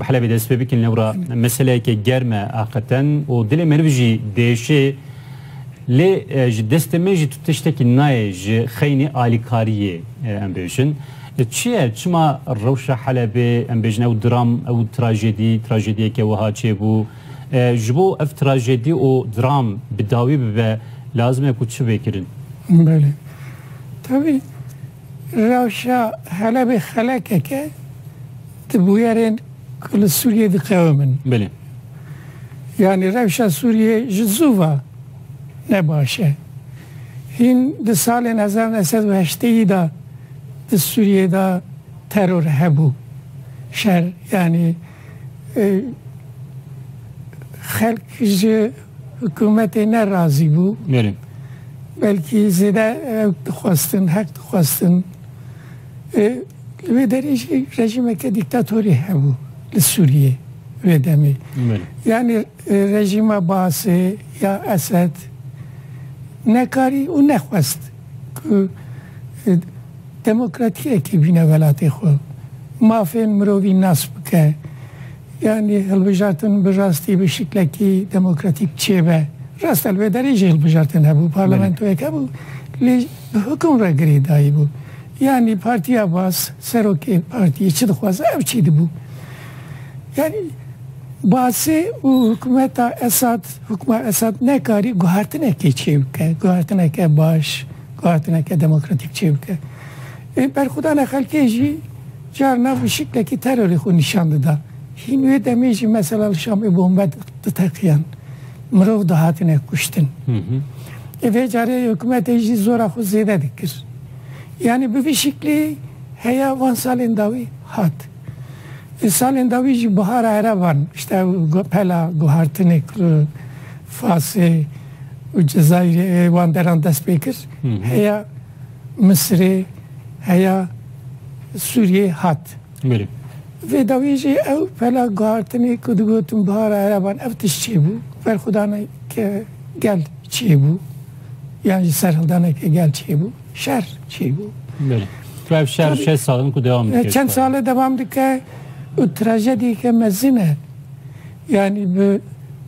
Bi Helebê dest pê bikin lewra meseleyeke germ e aqeten û dilê meriv jî diêşê. Lê ji destê me jî tu tiştekî nayê ji xeynî alîkariyê em bêjin. Çi ye çima rewşa Helebê em bêjin ew dram ew trajedî trajediyeke wiha çêbû? Ji bo ev trajedî û dram bi dawî bibe lazim e ku çi bê kirin? Belê. Tevî Rewşa Helebê xelekek e di bûyerên ku li Sûriyeyê diqewimin. Belê. Yanî rewşa Sûriyeyê ji zû ve ne baş e. Hîn di salên hezar û neh sed û heşteyî de di Sûriyeyê de teror hebû. Şer yanî xelk ji Hikûmetê ne razî bû. Nêrîn. Belkî zêde ew dixwestin, heq dixwestin. Ê li wê derê jî rejîmeke dîktatorî hebû li Sûriyê wê demê. Nêrîn. Yanî rejîma Baasê ya Esed nekarî û nexwest ku demokratiyekê bîne welatê xwe. Mafên mirovî nas bike. Yanî hilbijartin bi rastî bi şiklekî demokratîk çêbe. Rast e li vê derê jî hilbijartin hebû, parlamentoyek hebû lê bi hukum re girê dayîbû. Yanî Partiya Bas, serokê partiyê çi dixwaz ew çî dibû. Yanî Basê û hikûmeta Esad, hikûma Esad nekarî guhertinekê çê bike, guhertineke baş, guhertineke demokratîk çê bike. Ê berxwedana xelkê jî, Carna bi şiklekî terorê xwe nîşan dida. Hîn wê demê jî mesela li Şamê bombe diteqiyan, mirov dihatine kuştin. Ê vê carê hikûmetê jî zora xwe zêde dikir. Yanî bi vî şiklî heya van salên dawî hat. Di salên dawî jî bihara ereban işte ew pela guhartinê ku li Fasê û Cezayîrê ê wan deran dest pê kir heya. Misirê, heya Sûriyê hat. Berê. Vê dawiyê jî ew pela guhartinê ku digotin Bihara Ereban ev tişt çêbû, berxwedaneke gel çêbû yan jî serhildaneke gel çêbû, şer çêbû. Berê. Tu ev şer Tabii. çend sal in ku devam dike? Çend sal e devam dike û trajediyeke mezin e. Yanî bi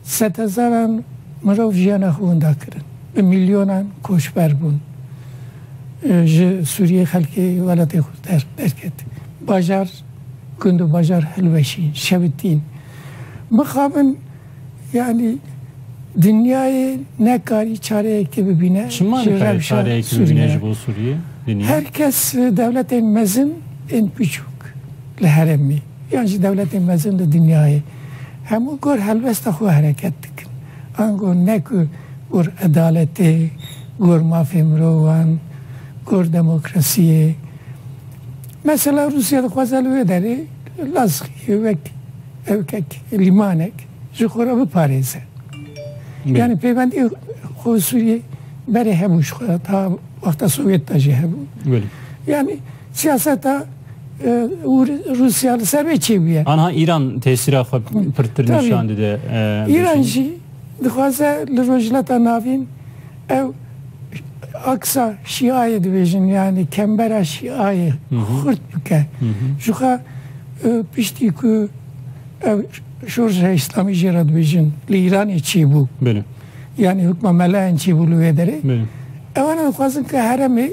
sedhezaran mirov jiyana xwe winda kirin, bi mîlyonan koçber bûn. Ji Sûriyeyê xelkê welatê xwe terk derket. Bajar, gund û bajar hilweşîn, şewitîn. Mixabin yanî dinyayê nekarî çareyekê bibîne ji rewşa Sûriyeyê. Her kes dewletên mezin ên biçûk li herêmê. yan ji dewletên mezin li dinyayê hemû gor helbesta xwe hereket dikin. Ango ne ku gor edaletê, gor mafê mirovan, gor demokrasiyê. Mesela Rûsya dixwaze li wê derê Lazqiyê wek ewkek, lîmanek ji xwe re biparêze. Yani peybendiyê xwe û Sûriyê berê hebû ji xwe re ta wexta Sovyet de jî hebû. Yani Siyaseta û Rûsya li ser vê çêbûye. Anha Îran tesîra xwe pirtir nîşan dide. Îran jî dixwaze li Rojhilata Navîn ew aksa şîayê dibêjin yanî kembera şîayê xurt bike. Jixwe piştî ku ew şorja îslamî jê re dibêjin li Îranê çêbû. Yanî hukma melayan çêbû li wê derê. Ew ne dixwazin ku heremê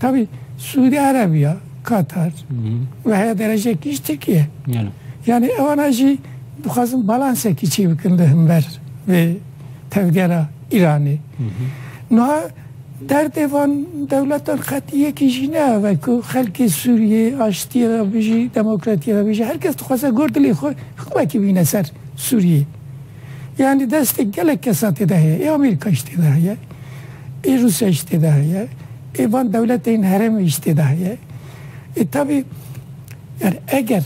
Tevî Sûdî Erebîya, Katar û heya derece kîj Tirkîye. Yanî ewana jî dixwazin balansekî çî bikin di himber vê tevgera Îranê. Nuha derdê van dewletan qetî yekî jî ne ev e ku xelkê Sûrîyê aştîye ve bijî, demokratîye ve bijî. Her kes dixwaze gor dilê xwe hiqûmekî bîne ser Sûrîyê. Yanî destê gelek kesa tê de heye. Ê Amerîka jî tê de heye. Ê Rûsya jî tê de heye. Ê van dewletên herêmê jî tê de heye. Ê tabî yanî eger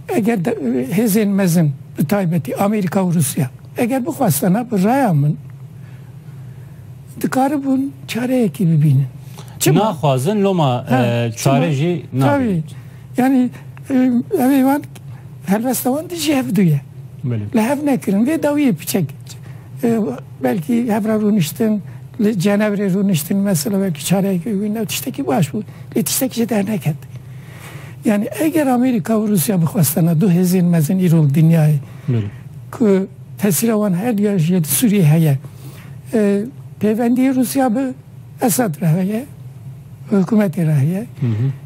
eger de hêzên mezin bi taybetî Amerîka û Rûsya eger bixwestana bi raya min dikaribûn çareyekî bibînin. Çima? Naxwazin loma çare jî nabînin. Yanî ev ê wan helbesta wan di jî hev du ye. Li hev nekirin vê dawiyê piçek belkî hev re rûniştin li Cenevrê rûniştin mesela belkî çareyekê wî ne tiştekî baş bû lê tiştekî jê derneket. Yani eger Amerika û Rusya bixwestena du hêzên mezin îro li dinyayê ku tesîra wan her duyan jî di Sûriyê heye pêvendiyê Rusya bi Esad re heye, hikûmetê re heye.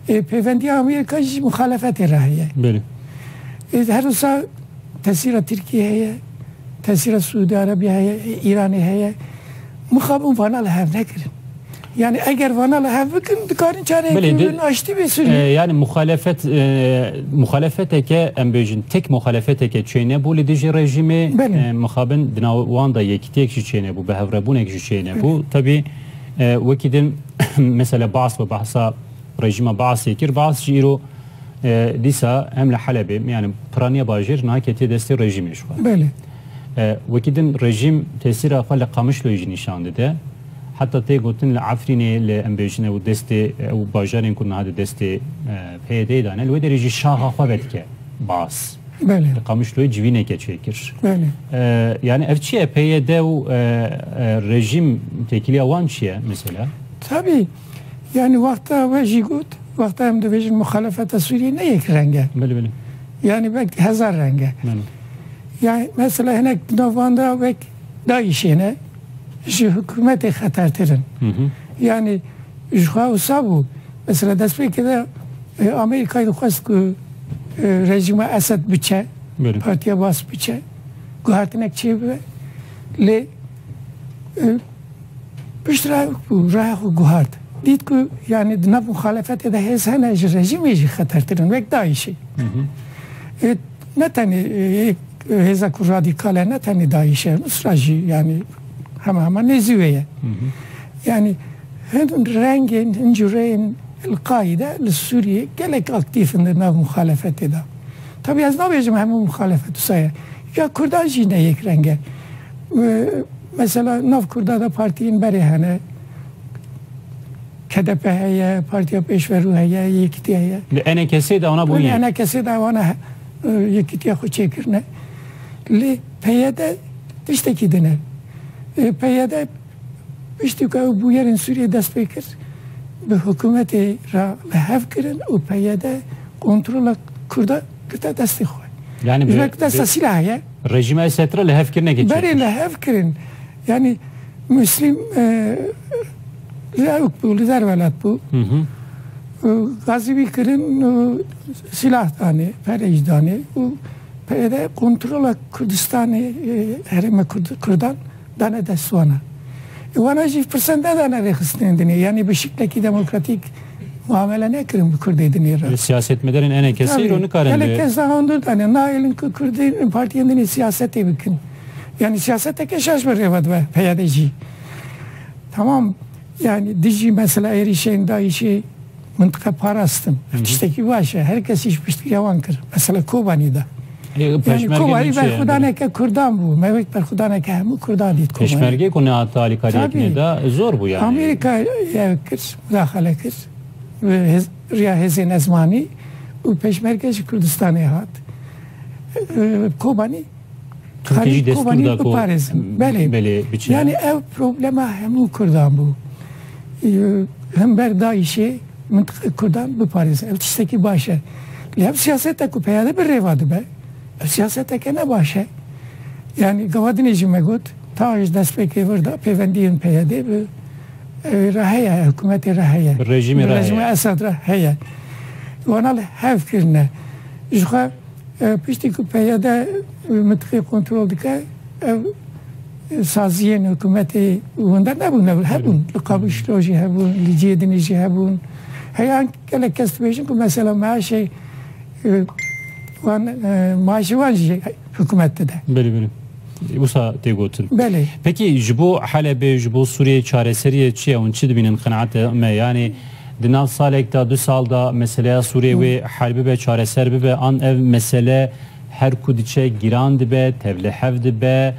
Ê pêvendiya Amerîka jî muxalefetê re heye. Belê. Ê her wisa tesîra Tirkiyê heye, tesîra Siûdî Erebîya heye, Îranê heye. Mixabin vana li hev nekirin. Yani eger vana li hev bikin dikarin çareyekî bibin aştî bê Sûriyê. E, yani muxalefet e, muxalefeteke em bêjin tek muxalefeteke çêne bû li dijî rejîmê e, mixabin di nav wan da yekîtiyek jî çêne bû, bi hevrebûnek jî Şeyne bu tabi wekî din mesela Baas bi bahsa rejîma Baasê kir. Baas jî îro dîsa hem li Helebê yani piraniya bajêr niha ketiye destê rejîmê ji xwe. Belê. Wekî din rejîm tesîra xwe li Qamişloyê jî nîşan dide. Heta tê gotin li Efrînê li em bêjin ew destê ew bajarên ku niha di destê PYD'ê de ne li wê derê jî şaxa xwe vedike Baas. Belê. Li Qamişloyê civîneke çêkir. Belê. Yani ev çi ye? PYD û rejîm têkiliya wan çi ye mesela? Tabii. Yani wexta we jî got, wexta em dibêjin muxalefeta Sûriyê ne yek reng e. Belê belê. Yani belkî hezar reng e. Belê. Yani mesela hinek di nav wan de wek dayîşêne ji hikûmetê xetertir in. Yanî jixwe wisa bû. Mesela destpêkê de Amerîkayê dixwest ku rejîma Esed biçe, Partiya Bas biçe, guhertinek çêbibe. Lê pişt re reya xwe guhert. Dît ku yanî di nav muxalefetê de hêz hene ji rejîmê jî xetertir in wek dayîşê. Ne tenê hêza ku radîkal e ne tenê DAIŞ e, Nusra jî yanî hema hema nêzî wê ye. Yanî hin rengên, hin cureyên El-Qaîde li Sûriyê gelek aktîf in di nav muxalefetê de. Tabî ez nabêjim hemû muxalefet wisa ye. Ya kurdan jî ne yek reng e. Mesela nav kurda de partiyên berê hene. KDP heye, Partiya Pêşverû heye, Yekîtî heye. Li NKS'ê de wana bûye. Li NKS'ê de wana Yekîtîya xwe çêkirine. Lê PYD tiştekî dine. PYD piştî ku ew bûyerên Sûriyeyê dest pê kir, bi hikûmetê re li hev kirin û PYD kontrola Kurda girte destê xwe. Yanî bi. Ji ber ku dest de sîlah heye. Rejîma Esed re li hev kirinekê çêkir. Berê li hev kirin. Yanî Muslim. li Ewk bû, li derwelet bû. Gazî wî kirin û silah danê, perêj danê û PYD kontrola Kurdistanê herêma Kurdan dane dest wana. Wana jî pirsan nedane rêxistinên dinê. Yanî bi şiklekî demokratîk muamele nekirin bi Kurdê dinê re. Siyasetmedarên ene kesê îro nikarin. Gelek kes de handur dane. Naelin ku Kurdê partiyên dinê siyasetê bikin. Yanî siyaseteke şaş bi rê ve dibe PYD jî. Tamam yani dijî mesela êrîşên DAIŞ'ê mintiqe parastin. Ev tiştekî baş e. Her kesî ji piştgiriya wan kir. Mesela Kobanî de. Yani Kobanî berxwedaneke Kurdan bû. Me wek berxwedaneke hemû Kurdan dît Kobanî. Pêşmergê ku nehata alîkariyek neda zor bû yani. Amerîka ev kir, mudaxale kir. Riya hêzên ezmanî û pêşmerge ji Kurdistanê hat. Kobanî Herî Kobanî biparêzin. Belê, yanî ew problema hemû Kurdan bû. Hember DAIŞ'ê mintiqe Kurdan biparêzin. Ev tiştekî baş e. Lê ev siyaseta ku peyade bi rêva dibe, ev siyaseteke ne baş e. Yanî gavadinê jî me got, tawa ji destpêkê vir de pêvendiyên peyadê bi evê re heye, hikûmetê re heye. Bi rejîmê re heye. Bi rejîma Esad re heye. Wana li hev kirine. Jixwe Piştî ku PYD mintîqê kontrol dike, ev saziyên hikûmetê wenda nebûn, ew hebûn. Li Kabûl Şilo jî hebûn, li Cêdinê jî hebûn. Heya gelek kes dibêjin ku mesela meaşê wan maaşê wan jî hikûmet dide. Belê belê. Wisa tê gotin. Belê. Pekî ji bo Helebê, ji bo Sûriyeyê çareseriyê çi ye hûn çi dibînin qenaata me? Yanî Di nav salek da du sal da meseleya Sûrê wê hel bibe çareser bibe an ev mesele her ku diçe giran dibe tevli hev dibe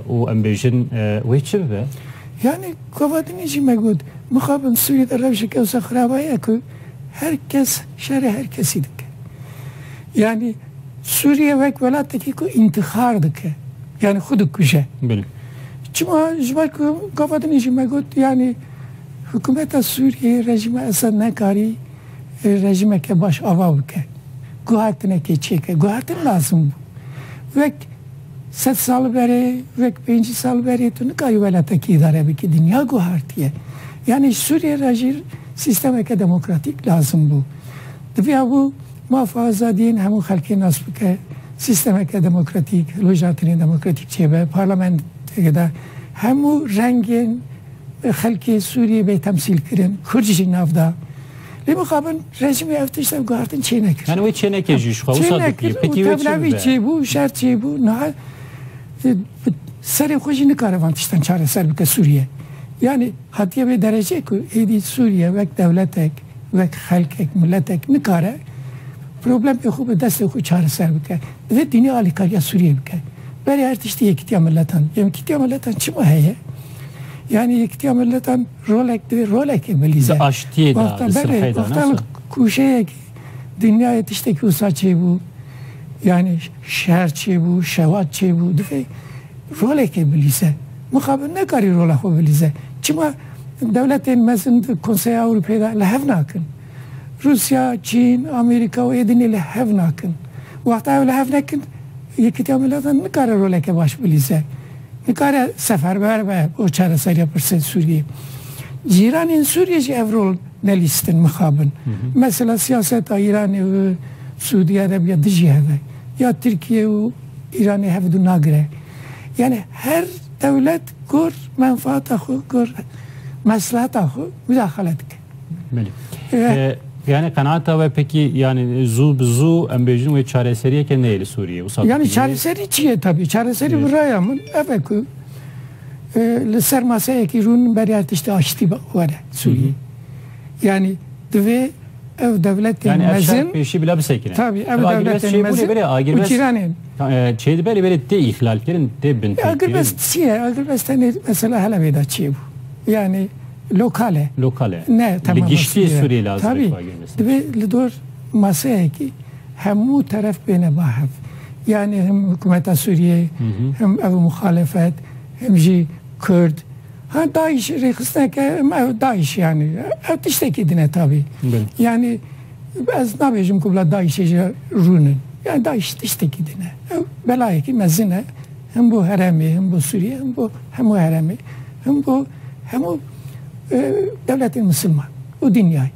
û em bêjin wê çi bibe? Yanî Kovatinî jî me got mixabin Sûrê de rewşeke wisa xirab heye ku her kes şerê her kesî dike. Yanî Sûriye wek welatekî ku întîxar dike yanî xwe dikuje. Çima ji ber ku Kovatinî jî me got yanî Hikûmeta Sûriyeyê rejîma Esed nekarî rejîmeke baş ava bike. Guhertinekê çêke. Guhertin lazim bû. Wek sed sal berê, wek pêncî sal berê tu nikarî welatekî îdare bikî. Dinya guhertiye. Yanî ji Sûriyeyê re jî sîstemeke demokratîk lazim bû. Diviya bû maf û azadiyên hemû xelkê nas bike, sîstemeke demokratîk, hilwejatinên demokratîk çêbe, parlamenteke de hemû rengên, Xelkê Sûriyê bê temsîlkirin, Kurd jî nav da. Lê mixabin rejîmê ev tişt, ev guhertin çênekir. Yani wê çênekê jî ji xwe wisa dikiriye. Petî wê çi bibe? Tevlevî çêbû, şer çêbû, niha bi serê xwe jî nikare van tiştan çareser bike Sûriye. Yani hatiye vê derecê ku êdî Sûriye wek dewletek, wek xelkek, miletek nikare problemê xwe bi destê xwe çareser bike. Divê dînî alîkariya Sûriyeyê bike. Berê her tiştî yekîtiya miletan. Yekîtiya miletan çima heye? Yani yektiya milletan rolek divê rolekê milî Di aştiyê de, di silhê de ne? Kuşeyekî dinyayê tiştekî wisa çêbû. Yani şer çêbû, şewat çêbû. Divê rolekê bilîze. Mixabin nekarî rola xwe bilîze. Çima dewletên mezin di Konseya Ewropeyê de li hev nakin. Rûsya, Çîn, Amerîka û Êdinê li hev nakin. Wexta ew li hev nekin, Yekîtiya Milatan nikare roleke baş bilîze. Nikare seferber be bo çareseriya pirsên Sûriyê. Cîranên Sûriyê jî ev rol nelîstin, mixabin. Mesela siyaseta Îranê û Sûdiya Erebiya dijî hev e. Ya Tirkiye û Îranê hev dû nagire. Yanî her dewlet gor menfaata xwe, gor mesleheta xwe mudaxale dike. Yani qenaata we pekî yani zû bi zû em bêjin wê çareseriyeke neyê li Sûriyê. Yani çareserî çi ye tabî çareserî bi raya min ev e ku li ser maseyekî rûn beriya tiştê aştî were Sûriyê. Yani divê ev dewletên yani mezin pêşî bila bisekine. Tabî ev dewletên mezin û cîranên. Çê dibe lê belê tê îhlalkirin tê bin. Agirbest çi ye? Agirbest tenê mesela helevê de çê bû. Yani Lokal e. Lokal e. Ne tema Li giştî Sûriyeyê. Sûriyeyê li Azerê Tabî, xwegir mesela. divê li dor maseyekî hemû teref bêne ba hev. Yanî him hikûmeta Sûriyeyê, him ev muxalefet, him jî Kurd. Ha DAIŞ rêxistineke him ew DAIŞ yanî ew tiştekî din e tabî. Belê. Yanî ez nabêjim ku bila DAIŞê jî rûn in. Yanî DAIŞ tiştekî din e. Ew belayekî mezin e. Him bo heremê, him bo Sûriyê, him bo hemû heremê, him bo hemû dewletên misilman û dinyayê.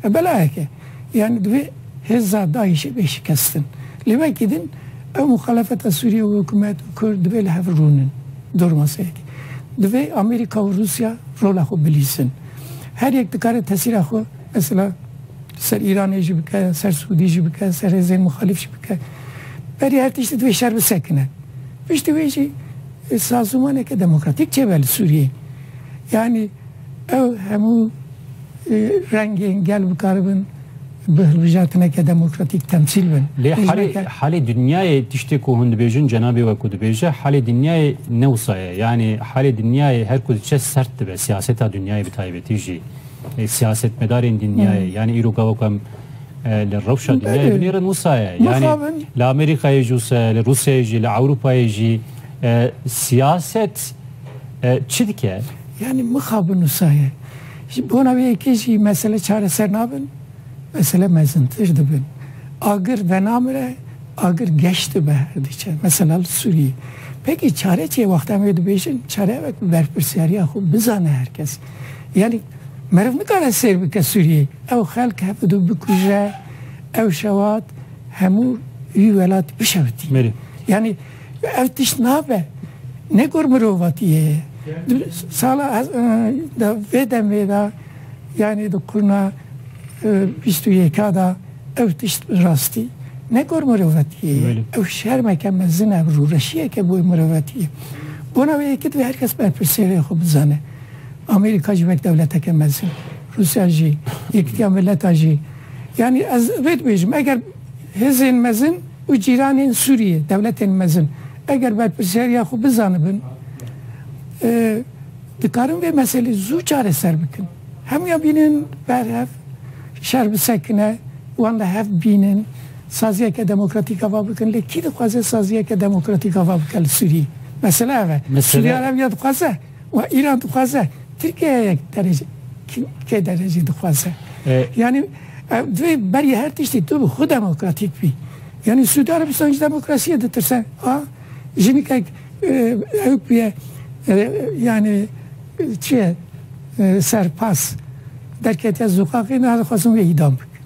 Ev belayek e. Yanî divê hêza DAIŞ'ê bê şikestin. Lê wekî din ew muxalefeta Sûriye û hikûmet û Kurd divê li hev rûnin. Dor maseyekê. Divê Amerîka û Rûsya rola xwe bilîzin. Her yek dikare tesîra xwe mesela ser Îranê jî bike, ser Sûdî jî bike, ser hêzên muxalîf jî bike. berê her tiştî divê şer bisekine. Piştî wê jî sazûmaneke demokratîk çêbe li Sûriyeyê. Yanî ew hemû rengên gel bikaribin bi hilbijartineke demokratîk temsîl bin. Lê halê halê dinyayê tiştê ku hûn dibêjin cenabê we ku dibêje halê dinyayê ne wisa ye. Yanî halê dinyayê her ku diçe sert dibe siyaseta dinyayê bi taybetî jî siyasetmedarên dinyayê. Yanî îro gava ku em Li rewşa dinyayê binêrin wisa ye. Yanî li Amerîkayê jî wisa ye, li Rûsyayê jî, li Ewropayê jî. Siyaset çi dike? Yanî mixabin wisa ye. Ji bona wê yekê jî mesele çareser nabin, mesele mezintir dibin. Agir venamire, agir geş dibe her diçe. Mesela li Sûriyê. Peki çare çi ye? Wexta em wê dibêjin çare ev e ku berpirsiyariya xwe bizane her kes. Yanî meriv nikare sêr bike Sûriyeyê. Ew xelk hev du bikuje, ew şewat hemû wî welat bişewitî. Yanî ev tişt nabe. Ne gor mirovatiyê ye. Di sala di vê demê de yanî di qurna bîst û yeka de ew tişt bi rastî ne gor mirovatiyê ye. Ew şermeke mezin e, rûreşiyeke bo mirovatiyê. Bona wê yekê divê her kes berpirsiyarê xwe bizane. Amerîka jî wek dewleteke mezin, Rûsya jî, Yekîtiya Mileta jî. Yanî ez vê dibêjim, eger hêzên mezin û cîranên Sûriyê, dewletên mezin eger berpirsyariya xwe bizanibin, dikarin vê meselê zû çareser bikin. Hemûyan bînin ber hev, şer bisekine, wan li hev bînin, saziyeke demokratîk ava bikin. Lê kî dixwaze saziyeke demokratîk ava bike li Sûriyê? Mesela ev e. Sûriya ev ya dixwaze? Wa Îran dixwaze Tirkiyeyek derece kê derece dixwaze. Yanî ev divê berî her tiştî tu bi xwe demokratîk bî. Yanî Sûdî Erebistan ji demokrasiyê ditirse. A jinîkek ew bûye yanî çi ye serpas derketiye sokaxê nadixwazin wê îdam bikin.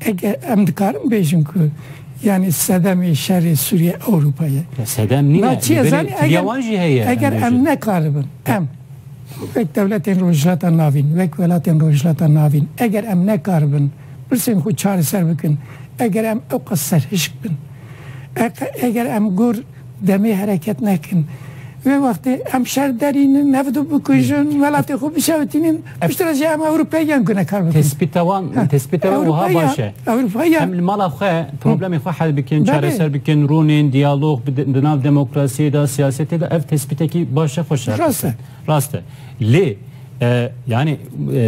Eger em dikarin bêjin ku yanî sedemê şerê Sûriyê Ewropa ye. Sedem nîne. Na çi ye zanî eger wan jî heye. Eger em nekaribin em wek dewletên Rojhilata Navîn, wek welatên Rojhilata Navîn eger em nekaribin pirsên xwe çareser bikin, eger em ewqas serhişk bin, eger em gor Demê hereket nekin. Vê wextê em şer derînin, nefd bikujin, welatê xwe bişewitînin, piştre re jî em Ewropeyiyan gune kar bikin. Tespîta wan, tespîta wan wiha baş e. Ewropeyiyan. Em li mala xwe problemê xwe hel bikin, çareser bikin, rûnên, diyalog di nav demokrasiyê de, siyasetê de ev tespîtekî baş e, xweş e. Rast e. Rast e. Lê yanî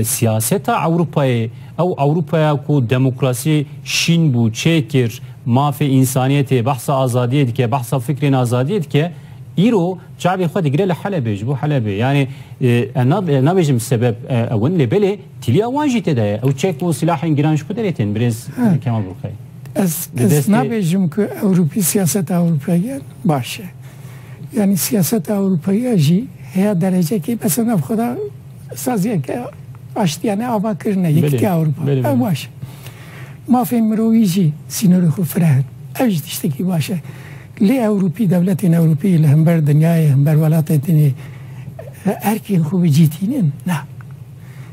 siyaseta Ewropayê ew Ewropaya ku demokrasiyê şîn bû, çêkir, mafê însaniyetê, behsa azadiyê dike, behsa fikrên azadiyê dike, îro çavê xwe digire li Helebê, ji bo Helebê. Yanî ez nabêjim sebeb ew in lê belê tîliya wan jî tê de ye. Ew çek û silahên giran ji ku derê tên birêz Kemal Burkayî? Ez nabêjim ku Ewropî siyaseta Ewropeyan baş e. Yanî siyaseta Ewropeya jî heya derecekê besa nav xwe de saziyeke aştiyane ava kirine Yekîtiya Ewropa. Ew baş e. Mafên mirovî jî sînorê xwe fireh in. Ev jî tiştekî baş e. Lê Ewropî, dewletên Ewropî li hember dinyayê, hember welatên din ê erkên xwe bicî tînin? Na.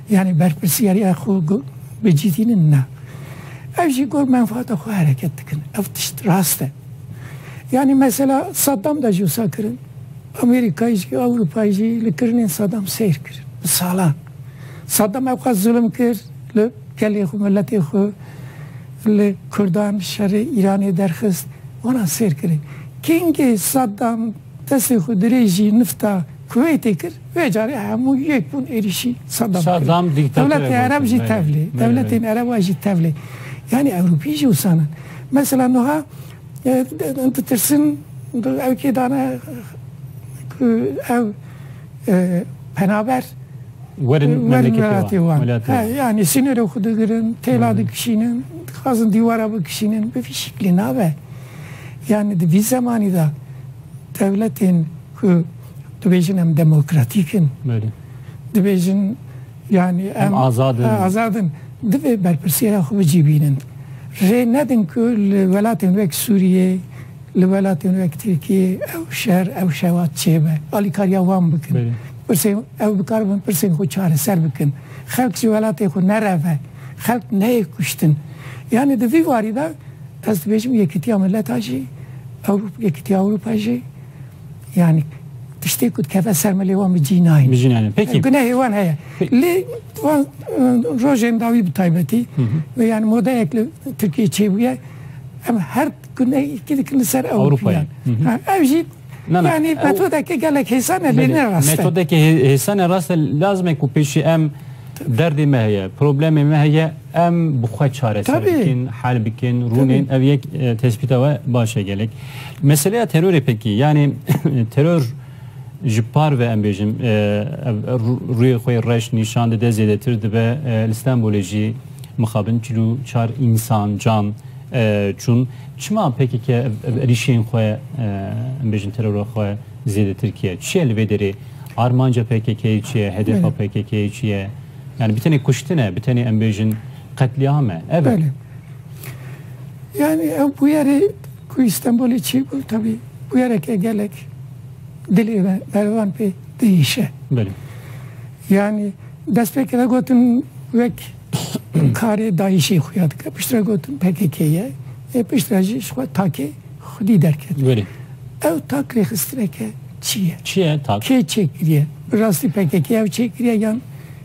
Yanî berpirsiyariya xwe bicihînin na. Ev jî gor menfaata xwe hereket dikin. Ev tişt rast e. Yanî mesela Saddam de jî wisa kirin. Amerîkayê jî, Ewropayê jî li kirinên Saddam seyr kir bi salan. Saddam ev qas zulm kir li gelê xwe, miletê xwe, li kurdan şerê Îranê derxist. Wana sêr kirê. Kengê Saddam destê xwe dirêjî nifta. Kuweytê kir, vê carê hemû yek bûn êrîşî Sadam kirin. Sadam dîktatore gotin. Dewletê Ereb jî tevlê. Dewletên Ereban jî tevlê. Yanî Ewropî jî wisa ne. Mesela nuha ditirsin ew kê dane ku ew penaber werin welatê wan. Yanî sînorê xwe digirin, têla dikişînin, dixwazin dîwara bikişînin. Bi vî şiklê nabe. Yanî di vî zemanî de. Dewletên ku dibêjin em demokratîk in, dibêjin yanî em azad in, divê berpirsiyara xwe bicîbînin. Rê nedin ku li welatên wek Sûriyê, li welatên wek Tirkiyê ew şer, ew şewat çêbe. Alîkariya wan bikin. Pirsên, ew bikaribin pirsên xwe çareser bikin. Xelk ji welatê xwe nereve. Xelk neyê kuştin. Yanî di vî warî de Ez dibêjim Yekîtiya Miletan jî, Ewropa, Yekîtiya Ewropa jî yanî tiştê ku dikeve ser milê wan bi cî nayên. Bi cî nayên. Pekî. Gunehê wan heye. Lê wan rojên dawî bi taybetî ve yanî modeyek li Tirkiyeyê çêbûye em her gunehekî dikin li ser Ewropî yan. Ew jî Yanî metodeke gelek hêsan e lê ne rast e. Metodeke hêsan e rast e lazime ku pêşî em derdê me heye, problemê me heye em bi xwe çareser bikin, hel bikin, rûnên ev yek tespîta we baş e gelek. Meseleya terorê pekî yanî teror ji par ve em bêjim rûyê xwe reş nîşan dide zêdetir dibe li Stenbolê jî mixabin çil û çar însan can çûn. Çima pkk rîşeyên xwe em bêjin terora xwe zêdetir kiye? Çi ye li vê derê? Armanca pkk'yê çi ye? Hedefa pkk'yê çi ye? Yani bi tenê kuştin e, bi tenê em bêjin qetlîam e. Ev e. Yani ew bûyerê ku Îstenbolê çêbû tevî bûyereke gelek dilê me mervan pê diêşe. Yani destpêkê de gotin wek karê DAIŞ'ê xuya dike. Piştre gotin pkk ye. Ê piştre jî ji xwe takê xwedî derket. Gurê. Ew tak rêxistineke çi ye? Çi ye tak? Kê çêkiriye? Bi rastî pkk ew çêkiriye yan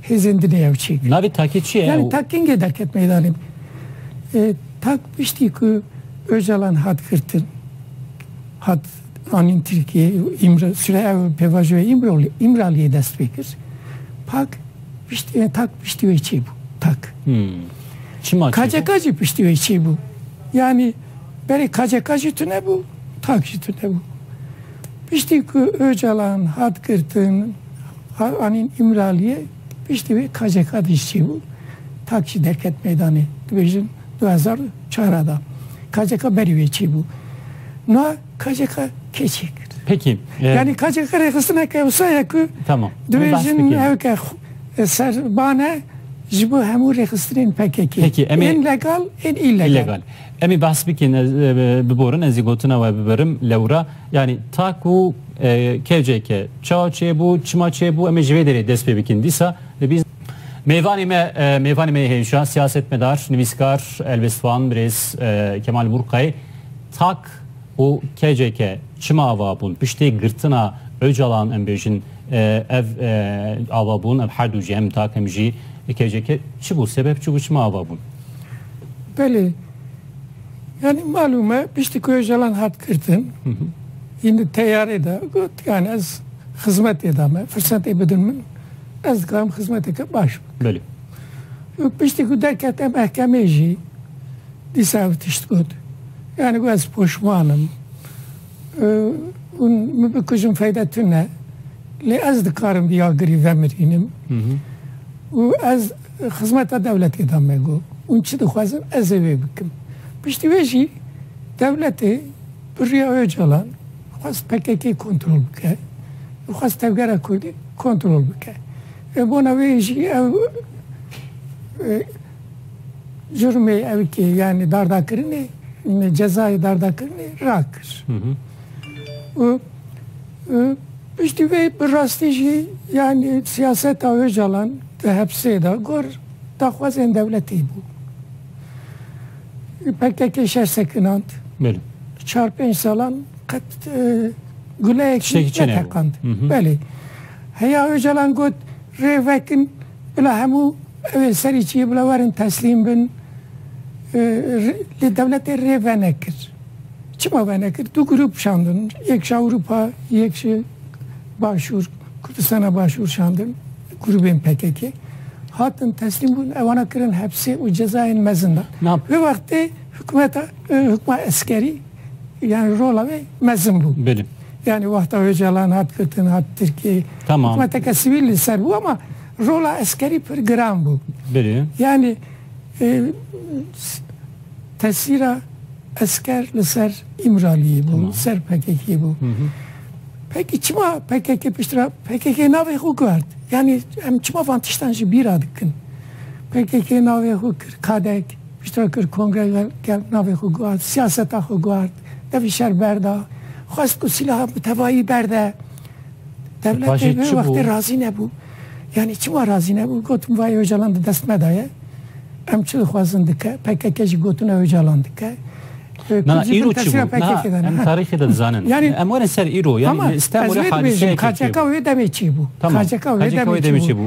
hêzên din ê ew çêkirin? Navê takê çi ye? Yanî tak kengê derket meydanê? Tak piştî ku Ocalan hat girtin, hat anîn Tirkiyeyê û îmr sirê ew pêvajoyê Îmraliyê dest pê kir. Pak. Piştî wê tak piştî wê çê bû tak. Çima çê bû? KCK jî piştî wê çê bû. Yanî berê KCK jî tune bû, tak jî tune bû. Piştî ku Ocalan hat girtin, anîn Îmraliyê, piştî wê KCK de jî çê bû. Tak jî derket meydanê. Dibêjin du hezar û çar a de. KCK berî wê çê bû. Niha KCK kê çê kir? Peki. Yani KCK rêxistina ke wisa ye ku Tamam. Dibêjin ew ke ser bane ji bo hemû rêxistinên PKK. Peki em ên legal ên îlegal. Em ê behs bikin biborin ez ê gotina we bibirim lewra yani ta ku KCK çawa çêbû çima çêbû em ê ji vê derê dest pê bikin dîsa dibî Mêvanê me mêvanê me hêja siyasetmedar nivîskar Elbisvan Birêz Kemal Burqay tak û KCK çima ava bûn? Piştî girtina Ocalan em bêjin ev ava bûn, ev herdû jî em takim jî KCK çi bû sebeb çi bû çima ava bûn? Belê yanî malûm e piştî ku Ocalan hat girtin hîn di teyarê de got yan ez xizmetê de me firsetê bidin min ez dikarim xizmeteke baş bikim. Belê. Piştî ku derkete mehkemê jî dîsa ev tişt got. Yani ku ez poşman im û hûn min bikujin feyda tune. Lê ez dikarim bi yagirî vemirînim û ez xizmeta dewletê de me got. Hûn çi dixwazin ez ê wê bikim. Piştî wê jî dewletê bi riya Ocalan xwest pkk kontrol bike û xwest tevgera kurdî kontrol bike. Bona wê jî ew Jurmê evkê yanî dardakirinê me cezayê dardakirinê rakir. Û piştî vê bi rastî jî yanî siyaseta Ocalan di hepsê de gor daxwazên dewletî bû. Pkk şer sekinand. Belê. Di çar pênc salan qet guleyek jî neteqand. Belê. Heya Ocalan got rê vekin Bila hemû ew ên serî çiyê bila werin teslîm bin. Lê dewletê rê venekir. Çima venekir? Du grûp şandin. Yek ji Ewrûpa, yek ji Başûr, Kurdistana Başûr şandin. Grûbên pkk-ê. Hatin teslîm bûn, ewana kirin hepsê û cezayên mezin dan. Vê wextê hikûmeta, hikûma eskerî, yani rola wê mezin bû. Belê. Yani wexta Ocalan hat gotin hat Tirkiyeyê. Tamam. Hikûmeteke sivîl li ser bû ama rola eskerî pir giran bû. Belê. Yani e, tesîra esker li ser İmraliyê bû, li ser PKK'yê bû. Peki çima PKK piştira PKK navê xwe guhert. Yani em çima van tiştan jî bîra dikin. PKK navê xwe kir kadek. Piştre kir kongre li gel navê xwe guhart, siyaseta xwe guhart, devî şer berda, xwest ku silaha bi tevayî berde dewletê. Wê wextê razî nebû. Yanî çima razî nebû? Got min vayê Ocalan di dest me de ye. Em çi dixwazin dike. PKK jî gotine Ocalan dike. Na îro çi bû? Em tarîxê de dizanin. Em werin ser îro. Yanî li Stenbolê hadiseyek tê. KCK wê demê çi bû? KCK wê demê çi bû?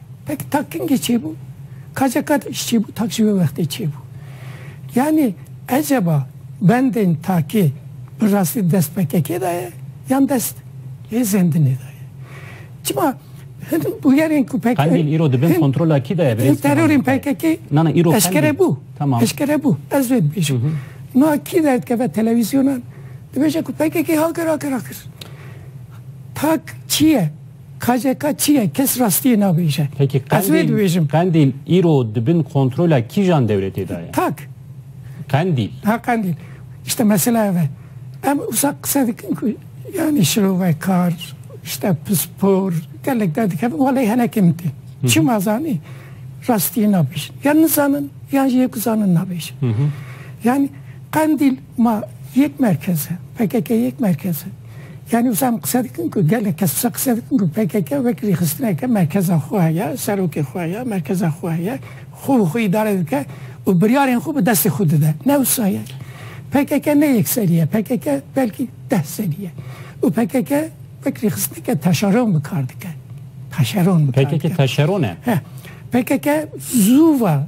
Pek takingê çêbû. Kace qet îş çêbû tak ji wê wextê çêbû. Yanî eceba bendên takê bi rastî dest pkk de ye yan dest lê zendinê de ye. Çima hin bûyerên ku pkk Qendîl îro di bin kontrola kî de ye birêz? Hin terorên pkk eşkere bû. Eşkere bû. Ez vê dibêjim. Niha kî derdikeve televîzyonan dibêje ku pkk ha kir ha kir ha kir. Tak çi ye? KCK çi ye? Kes rastiyê nabêje. Peki Ez wê Qendîl, dibêjim. Qendîl îro di bin kontrola kîjan dewletê de ye? Tak. Qendîl. Ha Qendîl. Îşte mesela ev e. Em wisa qise dikin ku yanî şirovekar, îşte pispor, gelek derdikevin. Welay henekê min tên. Çima zanî? Rastiyê nabêjin. Ya nizanin yan jî yê ku zanin nabêje. Yanî Qendîl Ma yek merkez e, pkk yek merkez e. Yanî wisa em qise dikin ku gelek kes wisa qise dikin ku pkk wek rêxistineke merkeza xwe heye, serokê xwe heye, merkeza xwe heye, xwe bi xwe îdare dike û biryarên xwe bi destê xwe dide. Ne wisa ye. Pkk ne yek serî ye. Pkk belkî deh serî ye. Û pkk wek rêxistineke taşeron bi kar dike. Taşeron bi kar dike. Pkk taşeron e. He. Pkk zû va.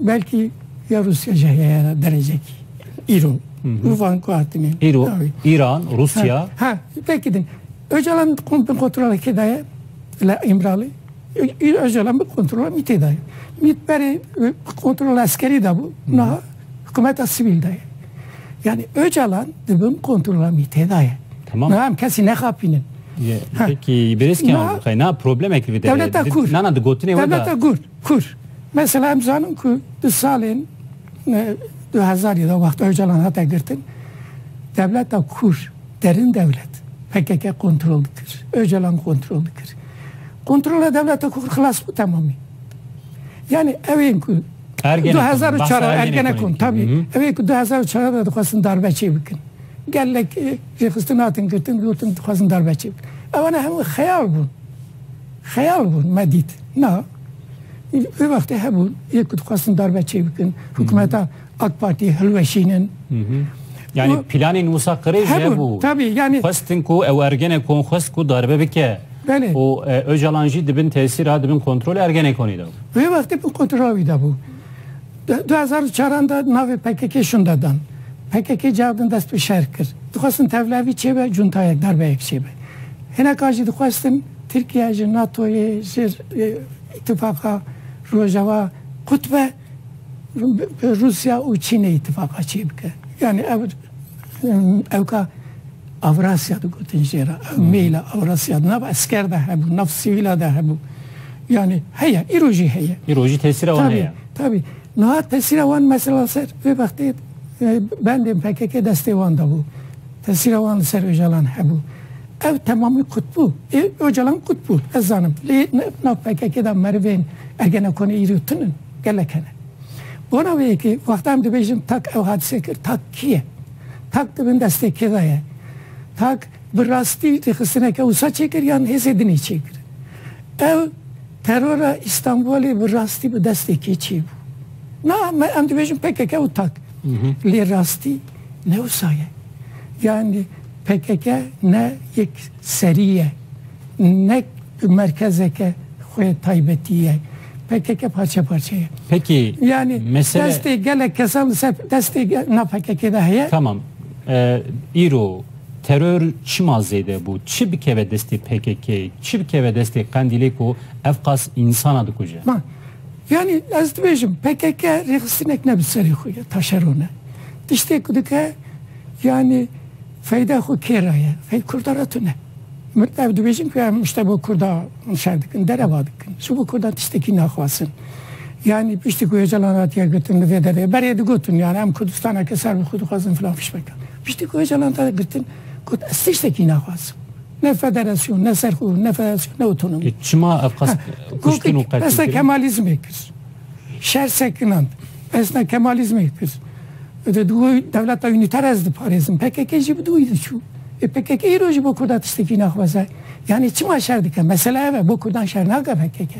Belkî ya Rûsya jî heye ya derejekî. Îro. Û van ku hatinê. Îro, Îran, Rûsya. Ha, belkî din. Ocalan bin kontrola kê de ye? Li Îmralî. Ocalan bin kontrola mîtê de ye. Mît berê kontrola eskerî de bû. Niha hikumeta sivîl de ye. Yani Ocalan di bin kontrola mîtê de ye. Tamam. Niha em kesî nexapînin. Peki, bêrêzkî an, xeyna problemek li vê derê. Dewleta Kurd. Nana di gotinê wê de. Dewleta Kurd. Kur, mesela em zanin ku di salên du hezarî de wexta Ocalan hate girtin, dewleta Kur, derin dewlet, pkk kontrol dikir, Ocalan kontrol dikir. Kontrola dewleta Kur xilas bû temamî. Yanî ew ên ku du hezar û çar Ergenekon, tabî, ew ên ku du hezar û çar de dixwestin darbe çê bikin. Gelek rêxistin hatin girtin, gotin dixwazin darbe çê bikin. Ewana hemû xeyal bûn. Xeyal bûn me dît na. Vê wextê hebûn yê ku dixwestin darbe çê bikin, hikûmeta AK Partiyê hilweşînin. Yanî planên Mûsa Qirê jî hebû. Tabî yanî. Xwestin ku ew Ergenekonê xwest ku darbe bike. Belê. Û Ocalan jî di bin tesîra, di bin kontrola Ergenekonê de bû. Vê wextê bin kontrola wî de bû. Di du hezar û çaran de navê PKK'ê şûnde dan. PKK cih din dest bi şer kir. Dixwestin tevlevî çêbe, cuntayek, darbeyek çêbe. Hinekan jî dixwestin Tirkiye ji NATO'yê, ji Îtîfaqa Rojawa qutbe, bi Rûsya û Çînê îtîfaqa çê bike. Yanî ev ew ka Avrasya digotin jê re. Ew mêla Avrasya di nav esker de hebû, di nav sivîla de hebû. Yanî heye, îro jî heye. Îro jî tesîra wan heye. Tabî, niha tesîra wan mesela ser vê vextê bendên pkk destê wan de bû. Tesîra wan li ser Ocalan hebû. Ev temamî qut bû. Ê Ocalan qut bû, ez zanim. Lê nav pkk de merivên Ergenekonê îro tun in, gelek hene. Bona wê ye ku wexta em dibêjin tak ew hadise kir, tak kî ye? Tak di bin destê kê de ye? Tak bi rastî rêxistineke wisa çêkir yan hêzê din ê çêkirin? Ew terora Îstanbulê bi rastî bi destê kê çêbû? Na, me em dibêjin pkk û tak. Lê rastî ne wisa ye. Yanî. Pkk ne yek serî ye, ne merkezeke xwe taybetî ye. Pkk parçe parçe ye. Pekî Yani mesele destê gelek kesan li ser destê ge- na PKK'ê de heye. Tamam. E, îro teror çima zêde bû? Çi bikeve destê PKK'ê? Çi bikeve destê Qendîlê ku ev qas însana dikuje? Ma yani ez dibêjim PKK rêxistinek ne bi serê xwe ye, taşeron e. Tiştê ku dike Yanî feyda xwe kê re ye? Fey kurda re tune. Min ev dibêjin ku em tişte bo kurda nişer dikin, dereva dikin. Ji bo kurdan tiştekî naxwazin. Yanî piştî ku Ocalan hatiye girtin li vê derê berê digotin yanî em Kurdistaneke ser bi xwe dixwazin filan fişmeke. Piştî ku Ocalan hatiye girtin got ez tiştekî naxwazim. Ne federasyon, ne serxwe, ne federasyon, ne otonomi. Lê çima ev qas kuştin û qetil kirin? Pesna Kemalîzmê kir. Şer sekinand. Pesna Kemalîzmê kir. Bi didû dewleta unîter ez diparêzim. Pkk jî bi dû wî diçû. Ê pkk îro jî bo kurda tiştekî naxwaze? Yanî çima şer dike? Mesele ev e, bo kurdan şer nake pkk.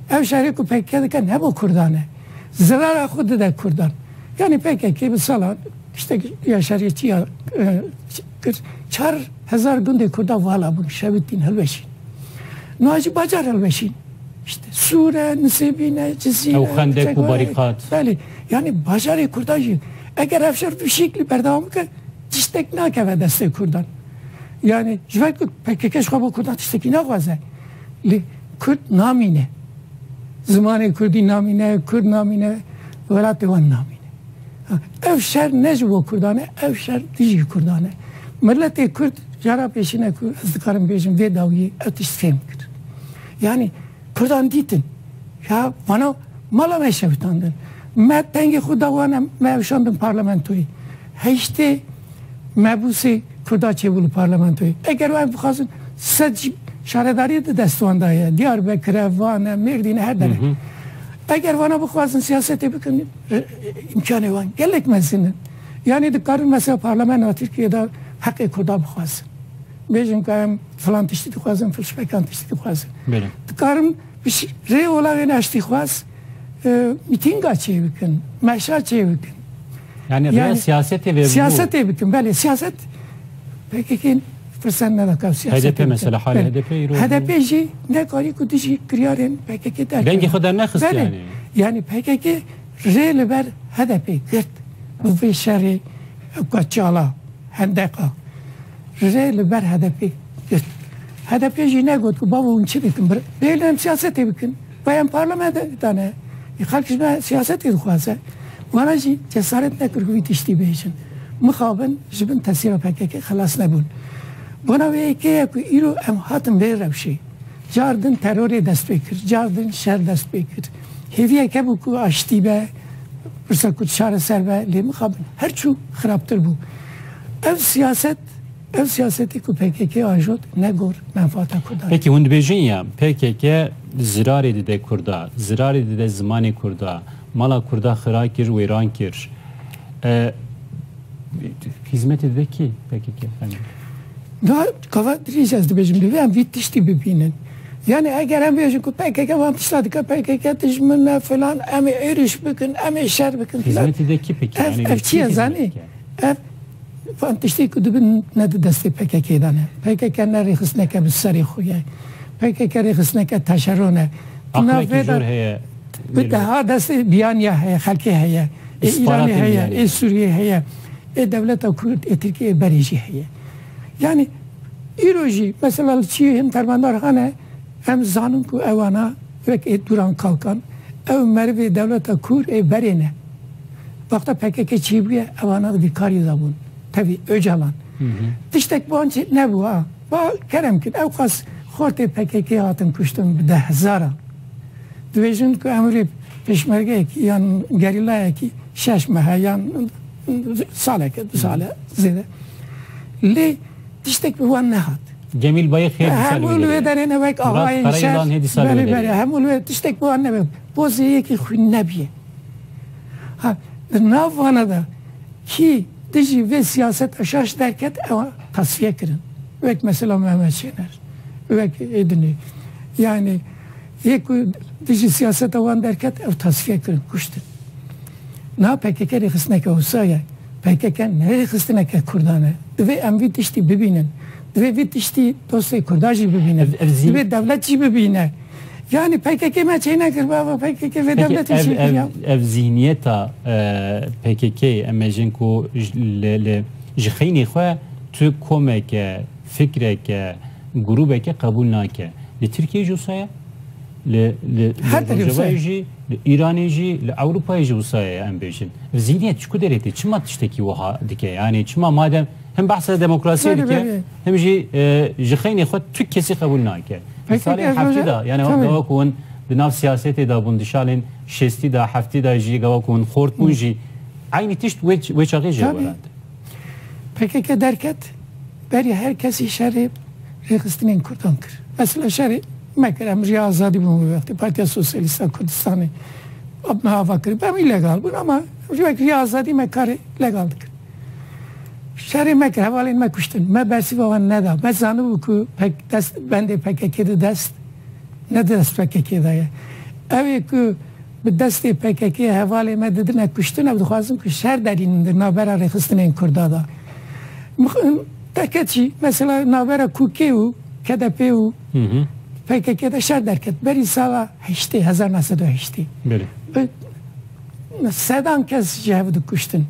Ev şerê ku pkk dike ne bo kurdan e. Zirara xwe dide kurdan. Yanî pkk bi salan tiştek ya şeriyetî ya kir. Çar hezar gundê kurdan vala bûn, şewitîn, hilweşîn. Niha jî bacar hilweşîn. Sûr e, Nisêbîn e, Cizîr e, Çekwer e. Belê. Yanî bajarê kurdan jî eger ev şer vî şeklî berdewam bike tiştek nakeve destê kurdan. Yanî ji ber ku pkk ji xwe bo kurdan tiştekî naxwaze lê kurd namîne. Zimanê kurdî namîne, kurd namîne, welatê wan namîne. Ev şer ne ji bo kurdan e, ev şer dijî kurdan e. Miletê kurd jara pêşîne ku ez dikarim bêjim vê dawiyê ev tişt fêm kir. Yanî Kurdan dîtin ya vana mala me şewitandin. Me pengê xwe da wan em me eşandin parlamentoyê. Heyştê mebûsê Kurda çêbû li parlamentoyê. Eger wan bixwazin sed jî şaredariyê di dest wan da ye. Diyarbekir e, Van e, Mêrdîn e her der e. Eger vana bixwazin siyasetê bikin îmkanê wan gelek mezin in. Yanî dikarin mesela parlamentoya Tirkiyeyê de heqê Kurdan bixwazin. Bêjin ka em filan tiştî dixwazin, fişvekan tiştî dixwazin. Belê. Dikarin rê ola wê neştîxwaz mîtînga çê bikin, meşa çê bikin. Yani, yani siyasetê ve Siyasetê bikin, belê. Siyaset PKK'in fırsat ne daka siyaset. HDP mesela hali HDP iro. HDP jî ne karî ku dijî kiryarên PKK derkeve. Dengê xwe dernexist yani. Yani PKK rê li ber HDP girt. Bu vê şerê ka çala. Hendeqa rê li ber HDP'ê girt. HDP'ê jî negot ku bavê hûn çi dikin. Bêyî em siyasetê bikin. Bavê em parlamentedan e. Ê xelk ji me siyasetê dixwaze. Wana jî cesaret nekir ku vî tiştî bêjin. Mixabin ji bin tesîra pkk xilas nebûn. Bona wê yekê ye ku îro em hatin vê rewşê. Car din terorê dest pê kir. Car din şer dest pê kir. Hêviyek hebû ku aştî be. Pirsa ku çareser be lê mixabin her çû xirabtir bû. Ev siyaset ev siyasetê ku pkk ajot ne gor menfaata Kurdan e. Peki hûn dibêjin ya pkk zirarê dide Kurda, zirarê dide zimanê Kurda, mala Kurda xira kir, wêran kir. E, hîzmetê dide kî pkk? Fehmî. Da kava dirêj ez dibêjim divê em vî tiştî bibînin. Yanî eger em bêjin ku pkk van tişta dike, pkk dijmin e filan, em ê êrîş bikin, em ê şer bikin filan. Hizmetê de kî bike? Ev ev çi ye zanî? Ev van tiştê ku dibin ne di destê pkk'ê de ne. Pkk ne rêxistineke bi serê xwe ye. Pkk rêxistineke teşeron e. Di nav vê de bi deha destê biyaniya heye, xelkê heye. Ê Îranê heye, ê Sûriyeyê heye, ê dewleta Kurd ê Tirkiyeyê berê jî heye. Yanî îro jî mesela li çiyên dermandarxan e em dizanin ku ewana wek ê Duran Kalkan ew merivê dewleta kûr ê berê ne. Wexta pkk çî bûye ewana di vî karî de bûn. Tevî Ocalan tiştek wan çê nebû a. Ba kerem kin ew qas xortê pkk hatin kuştin bi deh hezaran. Dibêjin ku em rê pêşmergeyekî yan gerîlayekî şeş mehe yan. Saleke du sale zêde. Lê tiştek bi wan nehat. Cemîl Bayix hê dîsa li wê derê ye. Hemû li wê derê ne wek axayên şer. Belê belê hemû li wê tiştek bi wan ne be. Pozê yekî xwîn nebîye. Ha di nav wana de kî dijî vê siyaseta şaş derket ew tasfiye kirin. Wek mesela Mehmet Şêner wek Êdinî yanî Yê ku dijî siyaseta wan derket ew tasfiye kirin, kuştin. Niha pkk rêxistineke wisa ye. Pkk ne rêxistineke kurdan e. Divê em vî tiştî bibînin. Divê vî tiştî dostê kurdan jî bibînin. Divê dewlet jî bibîne. Yanî pkk me çê nekir bava pkk vê dewletê çê kir ya. Ev zîhniyeta pkk-yê em ê jin ku li ji xeynê xwe tu komeke, fikreke, grûbeke qebûl nake. Li Tirkiyeyê jî wisa ye, li li Her li tiştê wisa ye. Rojavayê jî, li Îranê jî, li Ewropayê jî wisa ye em bêjin. Ev zîhniyet ji ku derê tê? Çima tiştekî wiha dike? Yanî çima madem him behsa demokrasiyê Berê, dike, berê. him jî e, ji xeynê xwe tu kesî qebûl nake. Di PKK salên ez heftî roja- de yanî Tabii. gawa ku hûn di nav siyasetê de bûn, di salên şêstî de, heftî de jî gawa ku hûn xort bûn jî eynî tişt wê wê çaxê jê Tabii. werand. PKK derket. Berî her kesî şerê rêxistinên kurdan kir. Mesela şerê me kir, em jî azadî bûn wê wextê. Partiya Sosyalîst a Kurdistanê me ava kir bû, em jî legal bûn ama em jî wek jî azadî me karê legal dikin. Şerê me kir, hevalên me kuştin. Me bersîva wan neda. Me zanibû ku pek dest bendê PKK'ê di dest ne di dest PKK'ê de ye. Ew ê ku Bi destê pkk-yê hevalê me didime kuştin ew dixwazin ku şer derînin di navbera rêxistinên Kurda de. Teke çî, mesela navbera QK û KDP û pkk de şer derket berî sala heştê, hezar neh sed û heştê. Bi sedan kes ji hev dikuştin.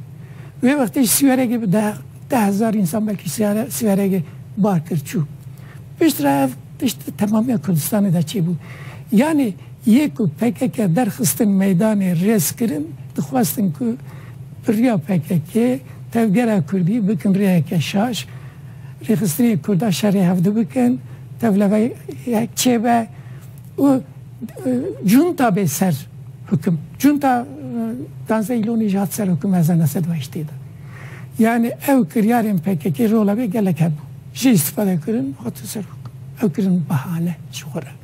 Wê wextê ji Sîweregê bi deh deh hezar însan belkî Sîweregê bar kir çû. Piştre ev tişt di temamiya Kurdistanê de çêbû. Yanî. Yê ku pkk derxistin meydanê rêz kirin, dixwestin ku bi riya pkk tevgera kurdî bikin rêyeke şaş, rêxistinên kurda şerê hevdu bikin, tevleveyek çêbe û cûnta bê ser hukim. Cûnta Danze Îlonî jî hat ser hukim hezar neh sed û heştê de. Yanî ew kiryarên pkk rola wê gelek hebû. Jê îstîfade kirin hatin ser hukim. Ew kirin bahane ji xwe re.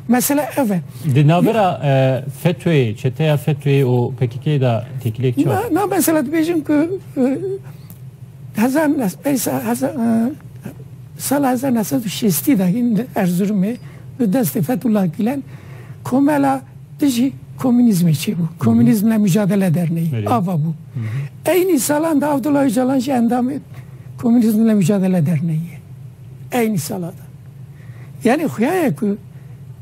Mesela ev e. Di navbera e, FETÖ'yê, çeteya FETÖ'yê û PKK'yê de têkiliyek çi Na, na mesela dibêjin ku e, hezar nes- pey sa- heza- e, sala 1960 de hîn li Erzurumê bi destê Fethullah Gülen komela dijî komünîzmê çêbû. Komünîzmle mücadele derneği. Öyle. Ava bû. Eynî salan da Abdullah Öcalan jî endamê Komünîzmle Mücadele Derneği'ye. Eynî salada. Yanî xuya ye ku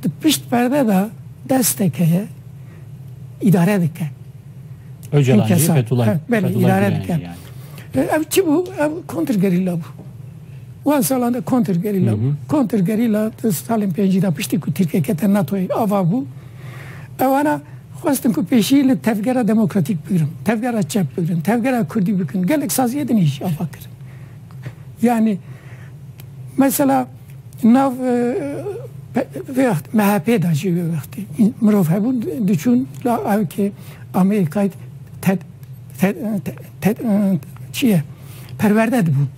di pişt perde de destek heye îdare dike. Ocalan jî Fethullah Gulani jî yanî. Ev çi bû? Ev kontrgerîla bû. Wan salan de kontrgerîla bû. Kontrgerîla di salên pêncî de piştî ku Tirkiye kete NATO'yê ava bû. Ewana xwestin ku pêşî li tevgera demokratîk bigirin, tevgera çep bigirin, tevgera kurdî bikin. Gelek saziyê din î jî ava kirin. Yanî mesela nav vê MHP'ê de jî wê wextî mirov hebûn diçûn la ew kê Amerîkayê çi ye perwerde dibûn.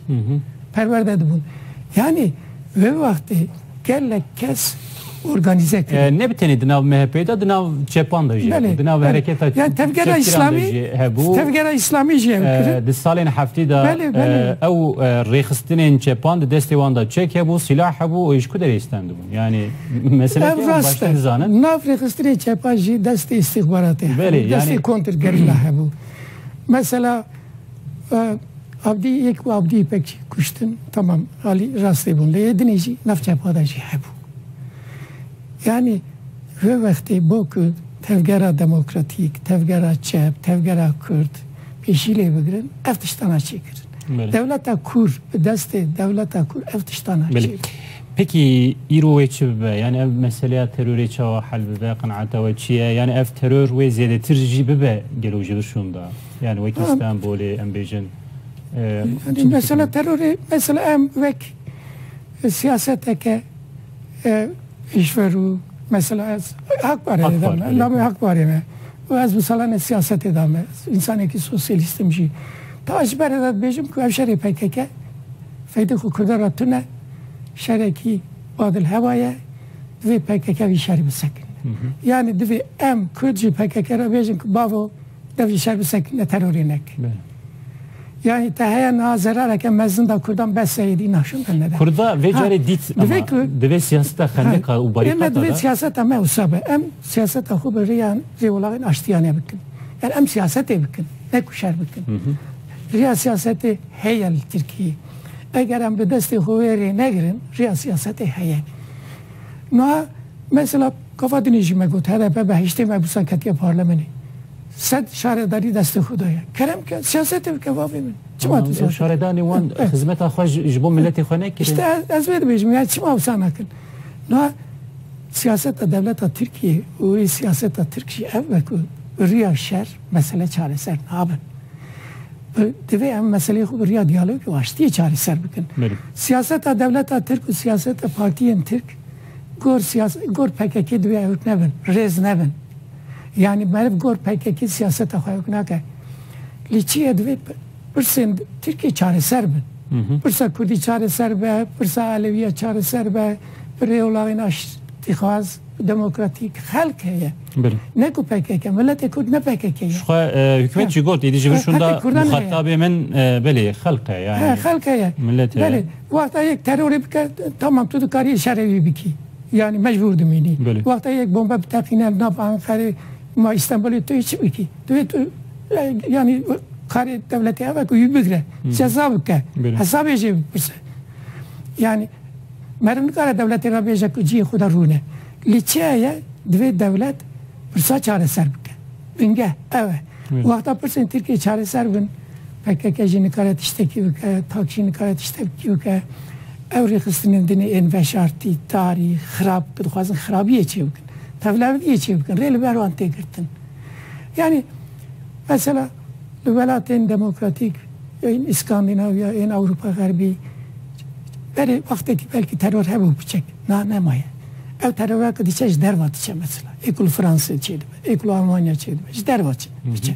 Perwerde dibûn. Yanî Vê wextê gelek kes organîze kirin. Ne bi tenê di nav MHP'ê de, di nav çepan de jî hebû, di nav hereketa çepgiran de jî hebû. Tevgera Îslamî jî ew kirin. Di salên heftî de ew rêxistinên çepan di destê wan de çek hebû, sîlah hebû û ji ku derê stendibûn? Yanî meselek e em baştir dizanin. Ev rast e. Nav rêxistinên çepan jî destê îstîxbaratê hebû, destê kontrgerîla hebû. Mesela Abdî yek û Abdî Îpek jî kuştin. Tamam alî rastî bûn lê yê dinê jî nav çepa de jî hebû. Yanî vê wextê bo ku tevgera demokratîk, tevgera çep, tevgera kurd pêşî lê bigirin ev tiştan a çê kirin. Dewleta kûr bi destê dewleta kûr ev tiştan a çê kirin. Peki îro wê çi bibe? Yanî ev meseleya terorê çawa hel bibe? Qenaeta we çi ye? Yanî ev teror wê zêdetir jî bibe gelo ji vir şûnda? Yan wekî Stenbolê em bêjin. Mesela terorê mesela em wek siyaseteke iş ver û mesela ez hak parê dame, navê hak parê me. û ez mesela ne siyasetê da me. İnsanekî sosyalistim jî. Ta ji ber de dibêjim ku ev şerê PKK feydê xwe Kurdan ra tune, şerekî badil hewa ye, divê PKK vî şerê bisekin. Yani divê em Kurd jî PKK ra bêjin ku bavo Ev jî şer bi sekîne terorê neke. Yani te heye niha zerareke mezin da Kurdan bes seyedî naşindan nede. Kurda vê carê dît ama divê siyaseta xendeka û barîkata da. Ême divê siyaseta me wisa be. Em siyaseta xwe bi rêya rêwelagên aştiyanê bikin. Yani em siyasetê bikin. Ne ku şer bikin. Rêya siyasetê heye li Tirkiyeyê. Eger em bi destê xwe wê rê negirin rêya siyasetê heye. Niha mesela Kafa din e jî me got hdp behiştê me bûsa ketiye parlemenê. Sed şaredarî destê xwe daye. Kerem ke, siyasetê bike bavê min. Çima tu siyaset? Şaredanê wan xizmeta xwe ji bo miletê xwe nekirin? İşte ez vê dibêjim ya çima wisa nakin. Niha siyaseta dewleta Tirkiyê û wê siyaseta Tirk jî ev be ku bi riya şer mesele çareser nabin. Divê em meseleyê xwe bi riya diyalog û aştiyê çareser bikin. Siyaseta dewleta Tirk û siyaseta partiyên Tirk Gor siyas gor pkk divê hewt nebin, rêz nebin. Yanî meriv gor pkk siyaseta xwe hewk nake. Lê çi ye divê pirsên Tirkiyê çareser bin. Pirsa Kurdî çareser be, pirsa Elewîya çareser be, bi rêolaxên aştîxwaz, demokratîk xelk heye. Ne ku pkk, miletê Kurd ne pkk ye. Jixwe hikûmet jî got, êdî ji vir şûnda muxatabê min belê xelk e yani. He xelk heye. Milet heye. Wexta yek terorê bike tamam tu dikarî şerê wî bikî. Yanî mecbûr dimînî. Wexta yek bombe biteqîne nava Enqerê ma Îstenbulê tu yê çi bikî? Tu yê tu yanî karê dewletê ev e ku wî bigire, ceza bike, hesabê jê bipirse. Yanî meriv nikare dewletê re bêje ku cihê xwe de rûne. Lê çi heye divê dewlet pirsa çareser bike. Bingeh ew e. Wexta pirsên Tirkiyeyê çareser bin. Pkk jî nikare tiştekî bike, tak jî nikare tiştekî bike. Ew rêxistinên din ê ên veşartî, tarî, xirab ku dixwazin xirabiyê çê bikin, tevlevdiyê çê bikin rê li ber wan tê girtin. Yanî mesela li welatên demokratîk ên Îskandinavya, ên Ewropa Xerbî berê wextekî belkî teror hebû biçek, niha nemaye. Ew terora ku diçe ji derve diçe mesela. Ê ku li Fransê çê dibe, ê ku li Almanya çê dibe ji derve çê diçe.